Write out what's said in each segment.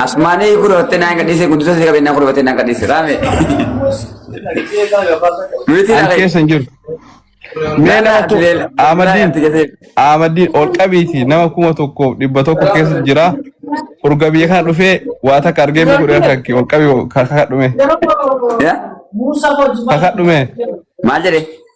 Asmaanee kun hottee naan gadhiise guddisa si qabee naan kun hottee naan gadhiise raame. Miti An raame. keessa hin jiru. Mee nama tu Ahmadiin Ahmadiin ol qabiiti nama kuma tokko dhibba tokko keessa jira. Urga biyya kana dhufee waa takka argee biyya godhee kakki ol qabii kakadhume kakadhume Maal jedhe?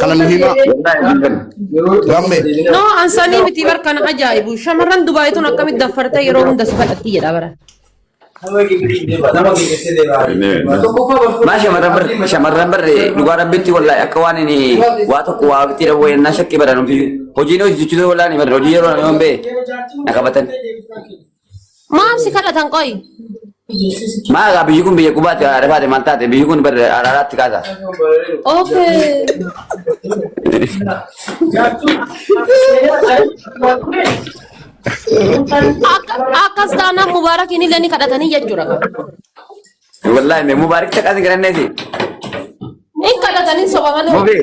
kana nu himaa Wallaahi hin galu. gamme No, ansanii miti bar kana ajaa'ibu. Shamarran Dubaay tun akkamitti daffartee yeroo hunda si kadhatti jedha bara. Maa shamarran bar shamarran bar dhugaa rabbitti wallaahi akka waan inni waa tokko waa ofitti dhabu wayannaa shakkii bara nuti hojiin hojjechituu wallaahi bara hojii yeroo nama hin bee na qabatan. Maaf si kadhatan qoyi. Maa egaa biyyi kun biyya qubaatti araara faate maal taate biyyi kun bar araaraatti kaasa. Okay. Akka akkas taanaan mubaarakiin illee ni kadhatanii jechuudha. Wallaahi mee mubaarik takka isin kadhanneeti. Ni kadhatanii soba malee. Mubee.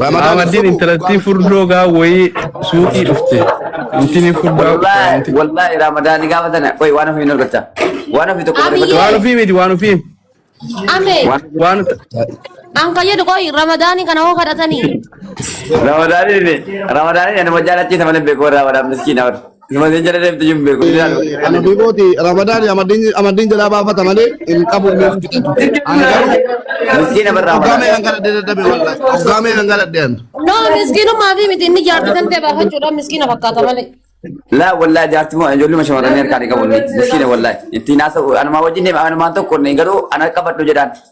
Ahmadiin intalattii furdoo gaa wayii suuqii dhufte. Intini furdaa Wallahi, dhufte. wallahi Ramadan ni gaafa sana. Qoy waan ofii hin argatta. Waan ofii tokko Abiyyi. barreeffadhu. Waan ofii miti waan ofii. Ame, Waan Waan an fayyadu qoy ramadaanii kana hoo kadhatanii. Ramadan ni Ramadan ni nama jaalachiisa malee beekoo Ramadan miskiina warra. Numatiin jala deemtu hin beeku. Ni ilaalu. Eh, Ana bibooti Ramadaan amaddiin amaddiin jalaa baafata malee hin qabu inni hin fixatu. Ani garuu Miskiina barraa hoggaa mataa. meeqan kadhadhee dadhabe wallah. Hoggaa meeqan kadhadhee ani. No, miskiinummaa fi miti inni jaartii kan ta'e baafachuudhaan miskiina fakkaata malee. Laa wallaa jaartii moo ijoollee shamarranii harkaa ni qabu. Miskiina wallaa. Ittiin haasa'u anumaa wajjin deema anumaan tokko inni garuu ana qabadhu jedhaan.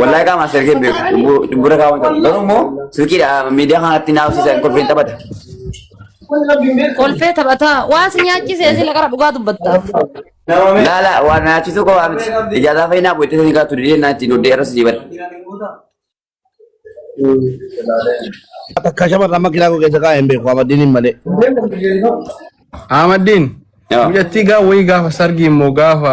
Wallahi qaama asirra kee beeku. Cubbura kaawwan qabu. Garuu immoo silkiidha miidiyaa kanatti naaf sisan kolfeen taphata. Kolfee taphataa waan si nyaachise sila qara dhugaa dubbatta. Laala waan naachisu qofaa miti. Ijaasaa fayyinaa bu'eetti sanii kaatu didee naachi doddee irra sijii bada. Akka shamarran amma kilaabuu keessa kaa'e hin beeku abaddiin hin malee. Ahmaddiin. Yoo. Mucattii gaa wayii gaafa sargii immoo gaafa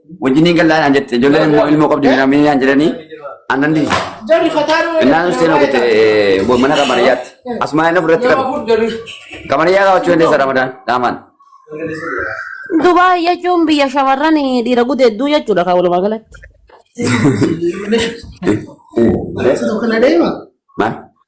wajjiniin gallaa naan jette ijoolleen immoo ilmoo qabdi miidhamanii naan jedhanii aannan dhiise. Jarri fataaruu. Innaan Hussein Ogote mana qamariyyaatti asumaan inni ofirratti qabe qamariyyaa kaawwachuu dandeessa ramadaan dhaamaan. Dubaay jechuun biyya shamarran dhiira gudeedduu jechuudha kan walumaa galatti. Maal?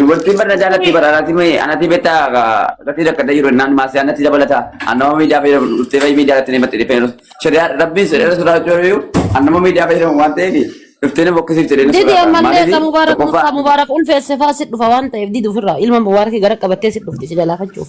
Dubartiin barna jaalatti bara anati mee anati beektaa irratti rakkatee jiru innaan maasii anatti dabalata annama miidiyaa fayyadamu dhuftee fayyii miidiyaa irratti himatti dhifee shariyaa rabbiin seera sodaachuu yoo annama miidiyaa fayyadamu waan ta'eef dhuftee nama bokkisiif jedhee na Didi sodaata ammallee maaliif ka mubaarak tokkoffaa ka mubaarak ulfeesse faa si dhufa waan ta'eef didi ofirraa ilma mubaarakii gara qabattee si dhufti si galaafachuuf.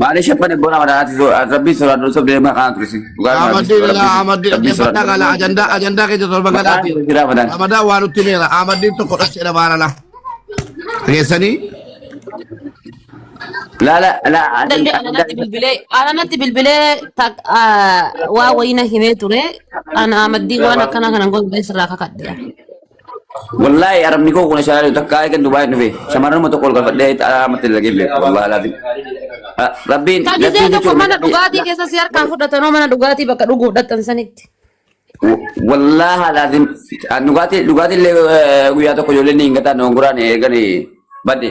Maalii shabbani boo nama dhaati rabbii sodaadhu osoo beemaa kaan turisi. Ahmad Dila Ahmad Dila dhaggeeffadhaa kana ajandaa ajandaa keessa torba gadaati. Ramadan waa nutti meera Ahmad Dil tokko dhas jedha baara la. Dhageessanii Laala laala Adalli ananatti bilbilee ananatti bilbilee tak- ah, waa wayina himee ture ana amaddii waan akkana kana godhu sirraa kakadhe. Wallahi arabni koo kun shaalu takka eegan Dubai dhufe. Shamarran mata qol galfadhee xaraa matti lagee beeku. Wallahi laafi. Rabbiin Ka gisee rabbiin tokko jechuun mana dhugaatii keessa si harkaa fudhatanoo mana dhugaatii bakka dhuguuf dhaqxan sanitti. wallahi laafi dhugaatii dhugaatii illee guyyaa tokko ijoolleen hin gataan dongoraan eeganii badde.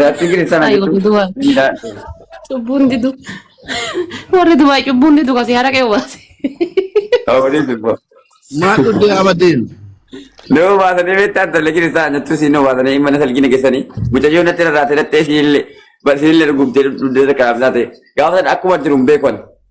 Gaaffii kiristaanaa Ayo jechuun kedua. hin daadhu. Cubun didu. Warri dubai cubun didu kasi hara kayo basi. Hawwanii dubbo. Maal dhuddee abadeen? Nama baasanii beektaa intalli kiristaanaa jechuun siin nama baasanii mana salgina keessanii mucayyoo natti rarraatee dhattee siinillee barsiinillee dhugumtee dhugdee qabaabsaa ta'e gaafa sana akkuma jiru hin beekan.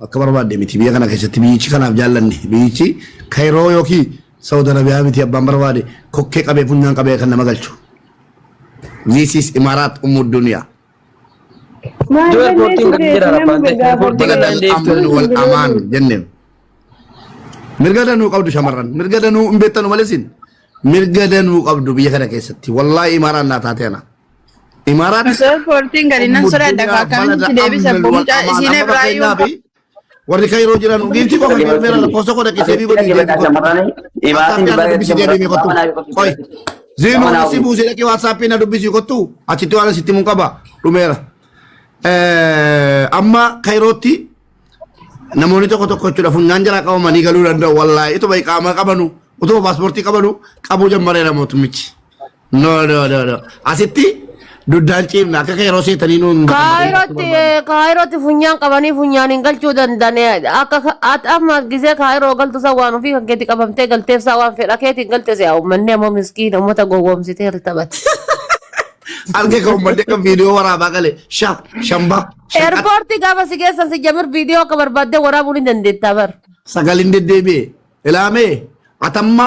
Akka barbaadde miti biyya kana keessatti biyyichi kanaaf jaallanne biyyichi Kayiroo yookiin Saudi Arabiyaa miti abbaan barbaade kokkee qabee funyaan qabee kan nama galchu. This is Imaaraat Ummud Duniyaa. Maal Dura jennee boortiin turre gadi jira nama rabbaan ta'e. gaggaafatee Boortiin gadi Baladal deemtu. Amn wal Amaan jenneen. Mirga danuu qabdu shamarran. Mirga danuu hin beektanu malee isin. Mirga danuu qabdu biyya kana keessatti. Wallaahi Imaaraan naa taate ana. Imaaraat Osoo ispoortiin gadi nan sodaadha kaa akkamitti deebisa abboo mucaa isiin Ibraahiim warri kan yeroo jiran giiftii qofa deemeera lakkoofsa koo dhaqee deebii godhee deebii godhee qoy ziinuu nasi buusee dhaqee waatsaappii na dubbisii kottu achitti waan asitti mun qaba dhumeera amma kairootti namoonni tokko tokko jechuudha funyaan jalaa qabamanii galuu danda'u wallaahi utuma iqaamaa qabanu utuma paaspoortii qabanu qabuu jammareera mootummichi. No, no, no, no. Asitti duddaan ciimna akka kee yeroo seetanii nuun. Kaayirootti kaayirootti funyaan qabanii funyaan hin galchuu dandane akka at amma gisee kaayiroo galtu san waan ofii kan keetti qabamtee galteef saa waan fedha keetiin galte si'a uummanni ammoo miskiin uummata gowwoomsitee irra taphate. Arge kan uummanni kan viidiyoo waraabaa gale sha shambaa. Eerpoortii gaafa si geessan si jamir viidiyoo akka barbaadde waraabuu ni dandeettaa bar. Sagal hin deddeebi'e. Ilaamee atamma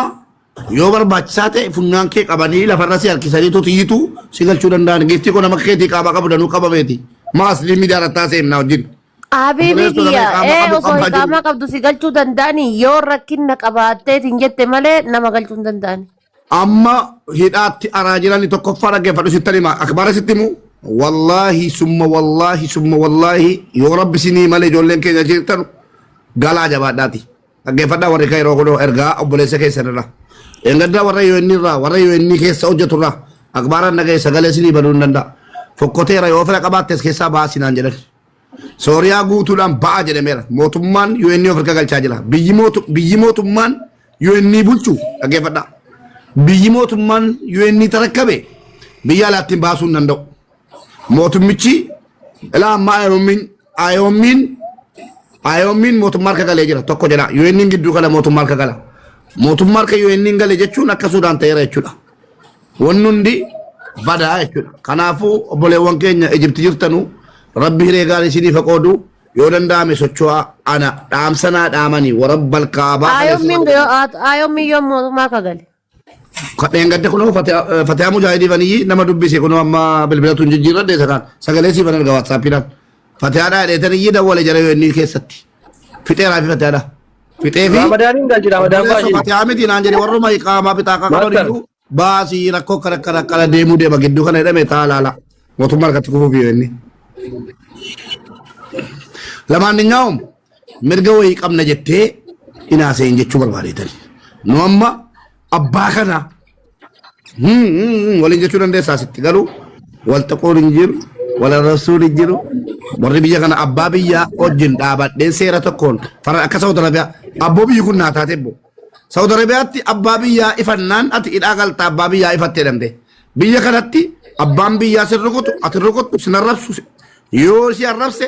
Yoo barbaachisaa ta'e funyaan kee qabanii lafarra si harkisanii tuti iyitu si galchuu danda'an. Giiftii koo nama keetii qaabaa qabu danuu qabameeti. Maa asliin miidiyaa irratti haasa'inna wajjin. Habiibii Obboleessu nama kiyya iqaama ee qabu osoo qabaa jiru. iqaamaa qabdu si galchuu danda'ani yoo rakkinna qabaatteet hin jette malee nama galchuu hin danda'ani. Amma hidhaatti araa jirani tokkoffaa dhaggeeffadhu sittan hima. Akbaara sitti himu. Wallaahi summa wallaahi summa wallaahi yoo rabbi sinii malee ijoolleen keenya jirtan galaa jabaadhaati. Dhaggeeffadhaa warri Kairoo kunoo ergaa obboleessa keessan irraa. Engaddaa warra UN irraa warra UN keessa hojjetu irraa akbaaraan dhaga'e sagalee sinii banuu hin danda'a. Fokkoteera yoo fira qabaattes keessaa ba'aa sinaan jedhan. Sooriyaa guutuudhaan ba'aa jedhameera. Mootummaan UN of harka galchaa jira. Biyyi mootu- biyyi mootummaan UN bulchu dhaggeeffadhaa. Biyyi mootummaan UN tarakkabe biyya alaattiin baasuu hin danda'u. Mootummichi ilaa ammaa ayoommiin ayoommiin ayoommiin mootummaa harka galee jira tokko jedha UN'n gidduu gala mootummaa harka gala mootummaa harka UN'n gale jechuun akka Suudaan ta'eera jechuudha wanni hundi badaa jechuudha kanaafuu obboleewwan keenya Ijibti jirtanu rabbi hiree gaarii isiniif haa qoodu yoo danda'ame socho'aa ana dhaamsanaa dhaamanii warra balkaabaa Ayoommiin yoo ayoommiin yoo mootummaa kagale. Kadheen gadda kunoo fatiyaa mujaahidii faniyyi nama dubbise kunoo amma bilbilatu hin jijjiirradhe isa kaan sagalee siifan erga waatsaappiidhaan. Fatiyaadhaa jedheetan iyyi dawwale jara yoonni keessatti. Fixeeraa fi fatiyaadhaa. Fixee fi Ramadaaniin gaji Ramadaan Obboleessa baay'ee. fatiyaa miti naan jedhe warruma iqaamaa bixaaqa qaban Master. iyyuu baasii rakkoo akkana akkana akkana deemuu deema gidduu kana jedhame taa laala. Mootummaa harkatti kufuuf yoo inni. Lamaanninyaawum mirga wayii qabna jettee hin haasa'in jechuu barbaadeetan. Nu amma abbaa kana hmm, hmm, hmm, waliin jechuu dandeessaa sitti garuu wal xaquun hin jiru, wal arrabsuun hin jiru. Warri biyya kana abbaa biyyaa wajjin dhaabadhee seera tokkoon farra akka Saawud Arabiyaa abboo biyyi kun naa taatee boo. Saudi Arabiyaatti abbaa biyyaa ifannaan ati hidhaa galta abbaa biyyaa ifattee dandee. Biyya kanatti abbaan biyyaa sin rukutu ati rukuttu sin arrabsu si- yoo si arrabse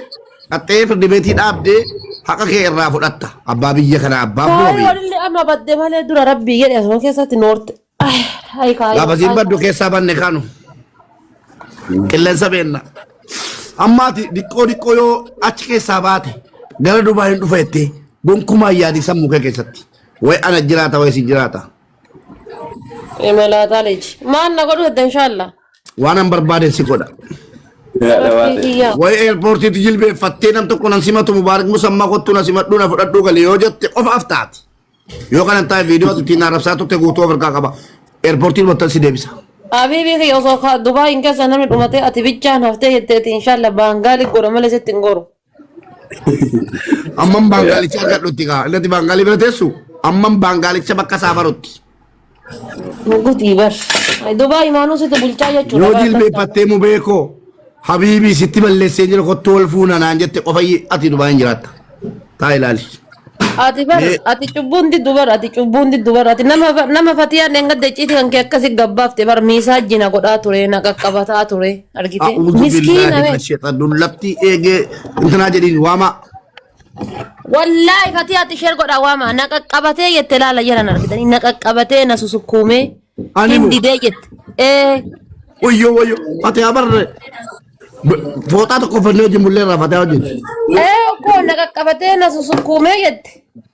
qaxxee firdi beetii dhaabdee haqa kee irraa fudhatta abbaa biyya kanaa abbaa bu'a Baay'ee biyya. olillee amma badde malee dura rabbii jedhe asuma keessatti noorte. Ay kaayo. Gaafa siin baddu keessaa banne kaanu. Qilleensa beenna. Ammaati diqqoo diqqoo yoo achi keessaa baate gara dubaa hin dhufa jettee gonkumaa yaadi sammuu kee keessatti. Way ana jiraata way si jiraata. Imalaataa leechi. Maal na godhu hedda inshaallah. Waan an barbaade si godha. Rabbii kiyyaa. Way eerpoortiitti jilbeeffattee nam tokko nan simatu mubaarak musammaa kottuu na simadhuu na fudhadhuu galee yoo jette qofaaf taati. Yoo kana hin taane viidiyoo ati ittiin arrabsaa turte guutuu of harkaa qaba. Eerpoortiin battal si deebisa. Habiibii kiyya osoo ka- Dubaayiin keessa namni dhumatee ati bichaan haftee jetteeti inshaallah baangaalii godha malee sitti hin goru. Amman baangaalicha argadhutti kaa. Innati baangaalii bira teessu. Amman baangaalicha bakka isaa barutti. Mugutii bar. Dubaa imaanuu situ bulchaa jechuudha. Yoo jilbeeffattee mubee koo habiibii sitti balleessee jira kottu wal fuuna naan jette qofa ati dubaa hin jiraatta. Taa ilaali. Ati bar Mee ati cubbuun diddu bar ati cubbuun diddu bar ati nama fa- nama fatiyaa dheengadde icciitii kan kee akkasi gabbaafte bar miisaa jina godhaa ture na qaqqabataa ture argite a'uuzu miskiina billaahi mee mina sheexan dullabtii eegee intinaa jedhiin waamaa. Wallaahi fatii ati sheer godhaa waama na qaqqabatee jette laala jalan argitanii na qaqqabatee na susukkuumee Ani hin moo? didee jette. Ee Wayyo wayyo fatiyaa barre. Fooxaa tokko fannoo wajjin bullee irraa fatiyaa wajjin. ee koo na qaqqabatee na susukkuumee jette.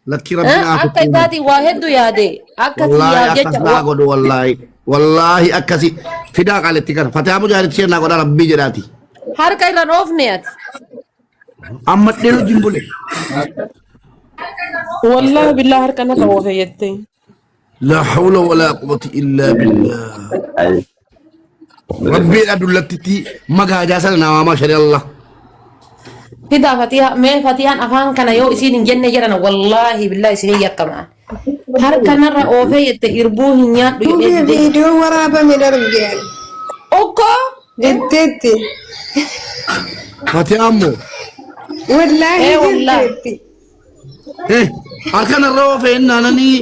Lakkii Eh, rabbiin haa Akka tokkummaa. isaatiin waa hedduu yaade akka Wallaahi siyyaaf akkas jecha naa godhu wallaahi. Wallaahi akkasi fidaa qaaletti kana. Fatiyaa mujaaritti isheen naa godha rabbii jedhaati. harka irraan oofne ati. Amma dhee wajjin bule. Wallahi billahi harka na qabu fayyadtee. Laa hawla walaa quwwata illaa billah. Ay. Rabbiidha dullattitti magaajaa sana naa waamaa shari Allah. Fidaa fatiyaa mee fatiyaan afaan kana yoo isiin hin jenne jedhan wallahi billahi isin hin yakkamaan. Harka narra oofee jette irbuu hin nyaadhu Duubi jedhee didee. viidiyoo waraabame dargeen Okkoo jetteetti. Fatiyaa ammoo. Wallaahi Ee, wallaahi. jetteetti. Eh, harka narra oofee naananii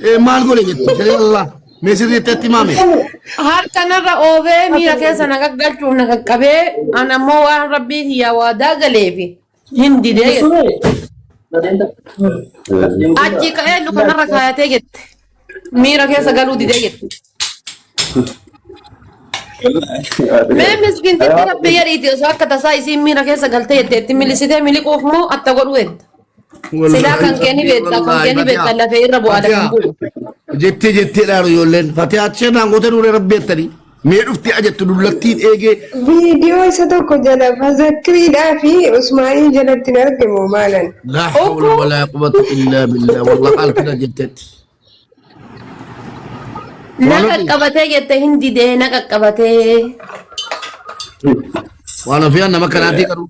eh, maal godhe jette. Jedhee Allah. Mee sirriitti itti maame. harka narra oofee miira keessa na gaggalchuuf na qaqqabee an ammoo waan rabbii kiyyaa waadaa galeefi Hin didee jette. Achi ka'ee luka narra kaayatee jette. Miira keessa galuu didee jette. Mee miskiin xiqqaa rabbi jedhiiti osoo akka tasaa isiin miira keessa galtee jette itti milisitee miliquuf moo atta godhu jette. Silaa kan kee ni beekta kan kee ni beekta lafee irra bu'aa lafa hin bu'u. Jettee jettee dhaaru ijoolleen. Fatee ati seenaan gootee duuree rabbi jettanii. Mee dhuftii ajattu dullattiin eegee. Video isa tokko jala mazakriidha fi usmaanii jalatti hin arge moo maalan. Laa hawla walaa qubata illaa billaa wallah alkana jettetti. Na qaqqabatee jette hin didee na qaqqabatee. Waan ofiyaan nama kanaatii garuu.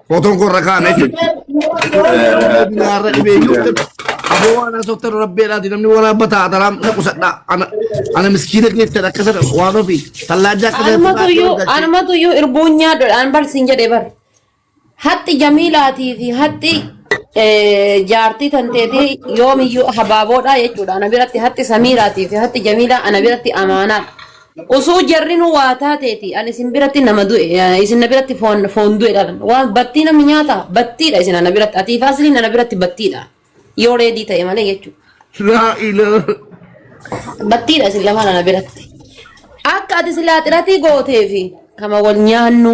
Fotoon kun irra kaa'ame jechuudha. Dinaa irra dhibee jirtu. Aboo waan haasoftan rabbeedhaati namni waraabbataa ataraam na qusadhaa. Ana ana miskiina keessan akka sana waan ofii tallaajaa akka sana Anumatu iyyuu anumatu iyyuu irbuun nyaadhodhaan bar siin jedhe bar. Haxxi jamiilaatii fi haxxi eh, jaartii tanteetii yoomiyyuu habaaboodhaa jechuudha. Ana biratti haxxi samiiraatii fi haxxi jamiilaa ana biratti amaanaadha. Usuu jarrinuu waa taateeti an isin biratti nama du'e eh, isin na biratti foon foon du'e dhalan waan battii namni nyaata battiidha isin ana biratti atiif asliin ana biratti battiidha yoo reedii ta'e malee jechuudha Laa ilaaha. battiidha isin lamaan ana biratti akka ati silaa xiratii gootee fi kama wal nyaannu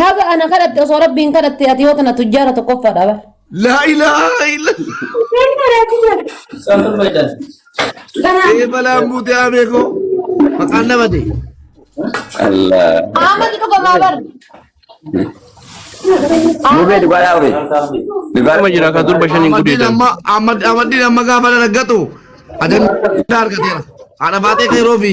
Haga ana kadhatte osoo rabbiin kadhatte ati yoo tana tujjaara tokkoffaadha bar. Laa ilaaha illallah. Ee balaan buutee haamee koo. Maqaan nama ta'e. Allah. Ahmad dhugamaa bar. Mube dhugaadhaa ure. Akkuma jira kan durba shaniin Ahmadiin gudeedan. amma Ahmad- Ahmadiin amma gaafa argatu adan argateera. Haadha baatee keeroo fi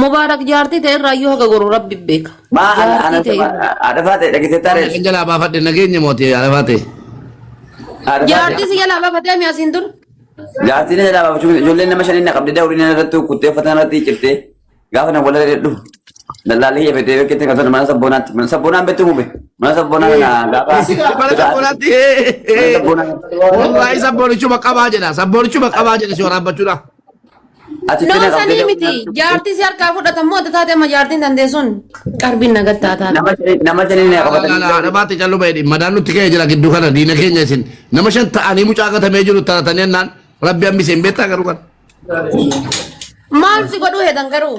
Mubaarak jaartii ta'e irraa yoo haga goru rabbi beeka. Maa ana Jaartii ana ta'e irraa. adafaa ta'e dhagite Amma taree. kan jalaa baafadhe nageenya mootii alafaa ta'e. Adafaa Jaartii ta'e. si jalaa baafatee mi'a siin dur. Jaartiin jedhaa baafachuu ijoolleen nama shaniin qabdi dawriin irratti kuttee uffata irratti ciftee gaafa na wala dhedhu. Dallaalli hiyya fetee beekte kan sana mana sabboonaatti. Mana sabboonaan beektu mube. Mana sabboonaa kana gaafa. Mana sabboonatti Mana sabboonaa. wallaahi sabboonichuma qabaa jedha sabboonichuma qabaa jedha si waraabbachuudha. Ati No tana qabdee sanii miti. dabalatu. Jaartii si harkaa fudhatan moo adda taate amma jaartiin dandee sun qarbiin nagaa taataa. Nama sanii nama sanii na qabatanii Laala jiran. dhabaatti callu bahe madaan nutti ka'ee jira gidduu kana diina keenya isin nama shan ta'anii mucaa qatamee jiru taratanii annaan rabbi hambisee hin beektaa garuu kan. Maal si godhuu hedan garuu?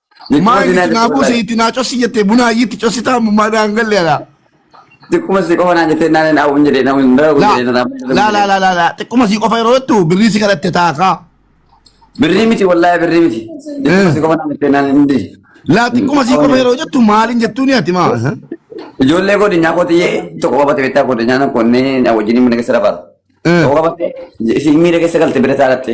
Maa Xiqquma inni sinaa itti naa buuse itti naa cossi jettee bunaa itti cossitaa mummaa dhaan galle alaa. xiqquma si qofa naan jettee naan hin haawun jedhee naan hin dalagu Laa jedhee naan laa laa laa laa laa xiqquma sii qofa yeroo jettu birrii si kadhatte taakaa. Birrii miti wallaahi birrii miti. Xiqquma si qofa naan jettee naan hin dii. Laa xiqquma sii qofa yeroo jettu maaliin jettuu ni ati maa. Ijoollee godinyaa kootiyye tokko qabate beektaa godinyaa konnee wajjin mana keessa lafaata. Tokko qabate isin miira keessa galte bira taalatte.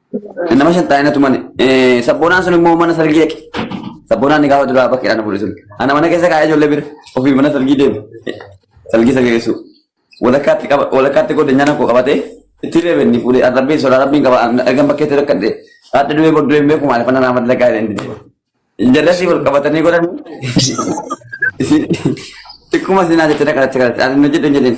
Nama shan taa'ina tumani. Sabboonaan sun immoo mana sargii dhaqe. Sabboonaan ni gaafa duraa bakkeedhaan na fuudhe sun. Ana mana keessa kaa'ee ijoollee bira ofii mana sargii deeme. Sargii isa geessu. Walakkaatti qaba walakkaatti godhe nyaana koo qabatee itti deeme inni fuudhee an rabbiin sodaa rabbiin qaba an ergan bakkeetti rakkadhe. Haadha du'ee bor du'ee beeku maaliif ana naama dalagaa jedhee inni deeme. Jallasii wal qabatanii godhan. Xiqquma sinaa jettee na kadhatte kadhatte. Ani na jedhe hin jedhin.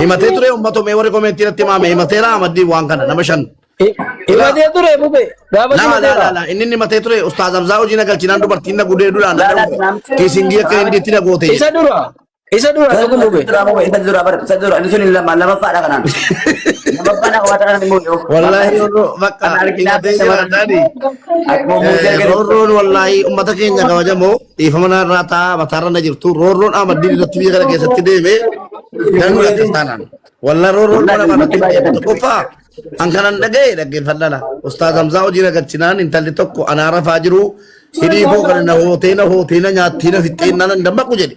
Himatee ture uummatoo mee warri komeettii irratti himaame himateera Ahmaddiin waan kana nama shan. Himatee ture bube. Gaafa Laa laa laa himateera. laa inni inni himatee ture Ustaaz Hamzaa hojii na galchinaan dubartiin na gudee duraan na darbu kiisingii akka hindi itti na goote. Isa dura. Isa dura dhugu bube. Wallaahi yeroo bakka himatee jiraataani. Roorroon wallaahi uummata keenya kabajamoo Dhiifama naarraa taa'aa mataarra na jirtu roorroon Ahmaddiin irratti biyya kana keessatti deeme nan mul'ata taanaan. Walla roorroon mana manatti deeme tokkoffaa an kanan dhaga'e dhaggeeffadhala. Ustaaz Hamzaa hojii nagalchinaan intalli tokko anaa rafaa jiru hidhii koo kana na hootee na hootee na nyaattii na fixxee na nan dammaqu jedhe.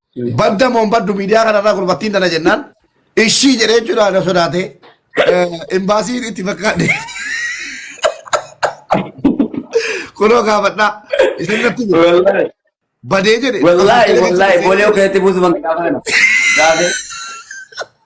Badda moo hin baddu miidiyaa kanarraa gurbattiin tana jennaan ishii jedhee jechuudha na sodaatee imbaasii itti fakkaadhe. Kunoo gaafadhaa isin natti jiru. Wallahi. Badee jedhe. Wallahi wallahi bolee keessatti buusuman gaafa kana. Gaafa.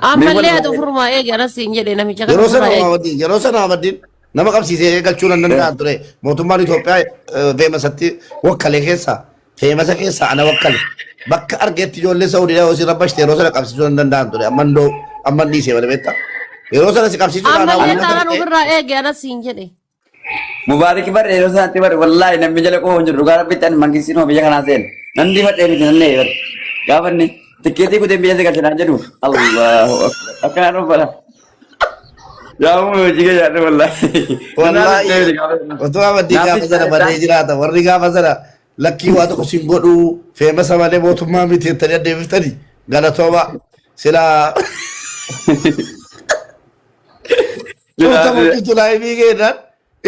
Mee Ammallee haa walirraa xumurumaa eegi anas siin jedhe namicha kana yeroo sana ofirraa eegi. Ahmadiin yeroo sana Ahmadiin nama qabsiisee eegalchuu nan danda'an ture mootummaan Itoophiyaa eh, feemasatti wakkalee keessa feemasa keessa ana wakkale bakka argeetti ijoollee Saawudiidhaa yoo si rabbashte yeroo sana qabsiisuu nan danda'an ture amma ndoo amma dhiisee malee beektaa yeroo sana si qabsiisuudhaan Ammallee hawwii taanaan ofirraa eegi anas siin jedhe. Mubaarik bar yeroo sanatti bar wallaahi namni jala qofa hin jiru dhugaa rabbitti ani mangissiin hoo biyya kanaa seen nan difadhee miti nan bar gaafa inni tikkeetii kuteen biyya si galchinaan jedhu Allahu akbar akkanaa dhufu bara yaa uumuu hojii kee yaadne wallaahi nan naaf wallaahi itti gaafa sana otoo amadii naaf gaafa itti sana badee yaadne jiraata warri gaafa sana lakkii waa tokko siin godhuu feemasa malee mootummaa miti jettanii addeebiftani galatooma silaa Tuuta mootichi laayivii keedhaan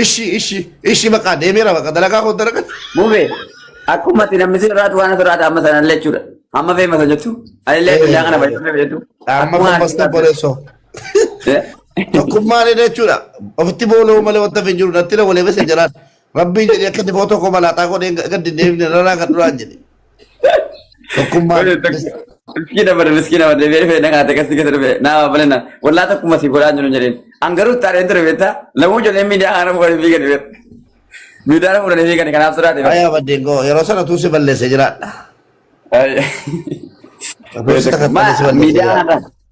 ishi ishi ishi maqaa deemeera maqaa dalagaa koo dalagaa. Mube, akkuma ati namni sin irraatu waan asirraata amma sana illee jechuudha. Amma fe'ima sana jettu. Ani illee addunyaa kana fayyadamee jettu. Amma kan basta boreessoo. Tokkummaan inni jechuudha. Ofitti booloo malee wanta hin jiru natti na walee basa jiraan. Rabbiin jedhee akka itti footoo koo malaataa godhee gaddi deebine irraa kan duraan jedhe. Tokkummaa Miskiina bada miskiina bada deebi'ee dhufee nagaa ta'e kasii keessa dhufee naa balena wallaa tokkummaa si godhaa jiru jedheen. An garuu taareen ture beektaa lamuu ijoollee miidiyaa haana fuudhanii fiigan beektaa. Miidiyaa haana fuudhanii fiigan kanaaf sodaate beektaa. ayaa baddeen koo yeroo sana tuusi balleesse jiraadha. Tuusi takka balleesse balleesse Miidiyaa jiraadha. haana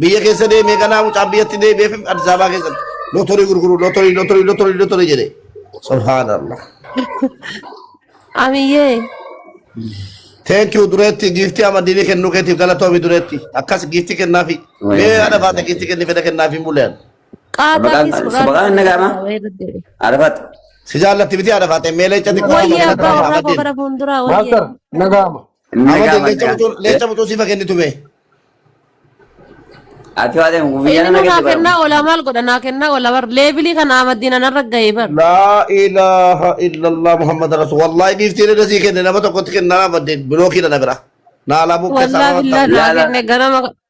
Biyya keessa deemee ganaa mucaan biyyatti deebi'ee fi Addis Ababaa keessatti lootorii gurguru lootorii lootorii lootorii lootorii jedhee. Subhaanallah. Amiyyee. Thank you dureetti giiftii amaddiinii kennuu keetiif galatoomi dureetti. Akkas giiftii kennaafi. Mee haadha baata giiftii kenni fedha kennaafi hin buleen. Maqaan sabaqaan inni gaama? Arafat. Si jaallatti miti haadha baata meelee cati Wayyee abbaa warraa koo gara fuulduraa wayyee. Master, nagaama. Amma Nagaa leenca nagaa. mucuu leenca mucuu sifa kennitu bee. Ati waa deemu gufiyyaa Inni na nu naa gadi kennaa barama. oolaa maal godha naa kennaa oolaa bar leebilii kana amaddiina narra gahee bar. Laa ilaaha illallah Muhammad Rasul. Wallahi biiftii irra sii kenne nama tokkotti kennaa baddeen bilookiidha na bira. Naa laamuu keessaa Wallaa nama billaa ta'u. naa Ilaala. kenne ganama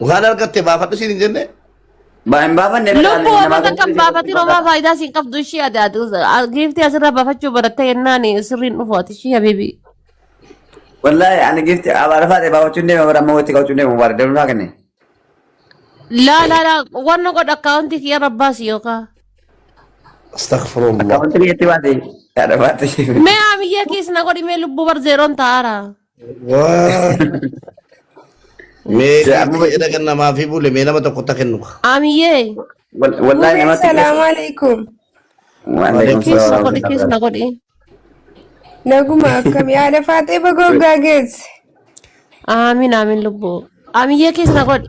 Waan argatte baafadhu siin hin jenne. Baa hin baafanne Lubbuu madaalli nama warra takkan gurguruu baafatii keessatti romaa faayidaa siin qabdu ishii adaatu. Giiftii asirraa baafachuu barattee jennaan sirriin dhufu ati ishii habiibi. Wallaahi ani gifti abaara faate baafachuun deema bara ammoo walitti qabachuun deema mubaara deemuu naa kenne. Laa laa laa wanna godha akkaawuntii kiyya rabbaas yookaa. Astaghfirullah. Akkaawwantii biyyatti baate yaada baate. Mee amiyyaa keessa na godhi mee lubbuu bar zeeroon ta'aara. Waa. Mee Jaa- gaafuma jedha kan namaa fi bule mee nama tokko takka kennu. Aamiyyee. Wal- Wallahi Mubee namatti salaamu dhiyeessa. alaikum. Waalaikum Kiis na salaam godhi kiis na godhi. Naguma akkam yaada faaxee baga waggaa geesse. Aamin aamin lubbuu. Aamiyyee kiis na godhi.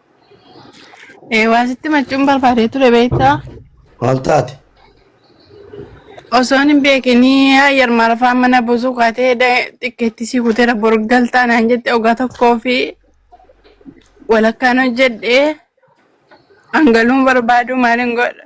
Ee, waan sitti machuun barbaadee ture beektaa? Maal taate? Osoon hin beekinii hayyar marfaa mana buusuu kaatee da- xiqqeetti sii kuteera bor galtaa naan jette ogaa tokkoo fi walakkaan hojjedhee hangaluun barbaadu maaliin godha?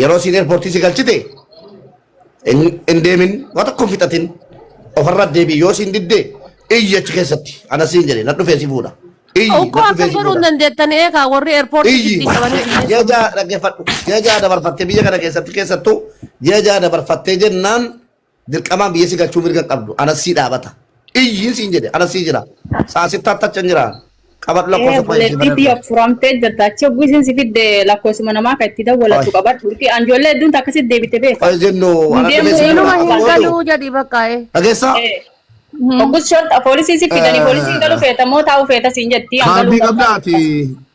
Yeroo siin eerpoortii si galchite hin deemin waa tokko hin fixatin ofirra deebi yoo siin didde iyyi achi keessatti ana siin jedhe na dhufee si fuudha. Iyyi na Ukkoo akka dhufee si godhuu hin fuudha. dandeettan eegaa warri eerpoortii Iyyi giddi qabanii ji'a biyya ja'a dhaggeeffadhu ji'a ja'a dabarfattee biyya kana keessatti keessattuu ji'a ja'a dabarfattee jennaan Dirqamaan biyya si galchuu mirga hin qabdu. Anas sii dhaabata. Iyyi siin jedhe. Anas sii jira. Saasittaa tachan jira. Qabadhu Ee lakkoofsa koo sii obboleettii barreessa. biyya furamtee jirta achi hogguu isin si fidde lakkoofsuma namaa kan itti dawwalattu Oy. qabadhu urkii anjoollee hedduun takka si deebite beekta. Oy jennu Hin ana deemuu dhibee si Inuma godha. hin Gootu. galuu jedhi bakka ee. Dhageessaa? Ee, Hoggus shorta poolisii si fidanii poolisii galu feeta moo taa'u feeta siin jetti an Kaardii galuu qabda qabda. ati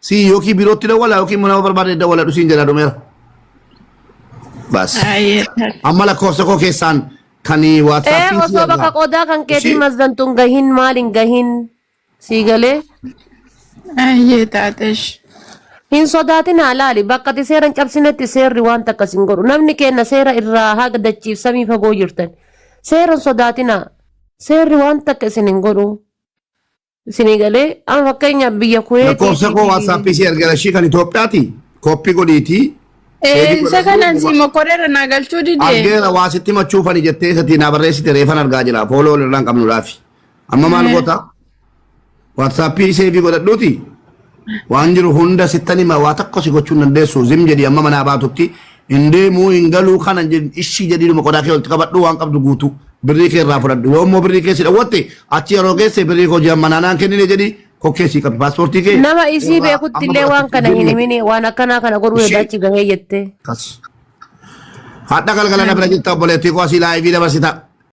Sii yookiin birootti dawwala yookiin mana barbaade dawwaladhu siin jedha dhumeera. Baas. Ayyee. Amma lakkoofsa koo keessaan kan Ee waatsaappiin si osoo bakka ergaa. qodaa kan keetii Ishii- mazdantuun gahin maal hin gahin sii galee Ayyee taatesh. hin sodaatin haa laali bakka ati seera hin cabsinetti seerri waan takka sin godhu namni keenna seera irraa haga dachiif samii fagoo jirtan seera hin sodaatinaa seerri waan takka isin hin godhu Isinii galee amma fakkeenyaaf biyya kuweetii. Lakkoofsa koo WhatsApp ishee erga lashii kan Itoophiyaati. Kooppii godhiitii. Ee, isa kanan si mokoreera naa galchuu dide. Argeera waa sitti machuufani jettee isatii naa barreessite reefan argaa jira. Fooloo walirraa hin qabnu laafi. Amma maal Eh. goota? WhatsApp ishee fi godhadhuuti. Waan jiru hunda sittan hima waa tokko si gochuu hin dandeessu zim jedhi amma manaa baatutti hin deemuu hin galuu kana jedhi ishii jedhiidhuma qodaa kee walitti qabadhu waan qabdu guutuu birrii kee irraa fudhadhu yoo immoo birrii kee si dhawwatte achi yeroo geesse birrii koo jiran manaa naan kennine jedhi kokkee sii qabi paaspoortii kee Nama isii irraa beekutti amma illee waan kana hin fudhachuuf himini waan akkanaa kana godhuu ishii hedaachi gahee jettee. Kas. Hadha galgala na bira jirta obboleettii koo asii laayivii dabarsita.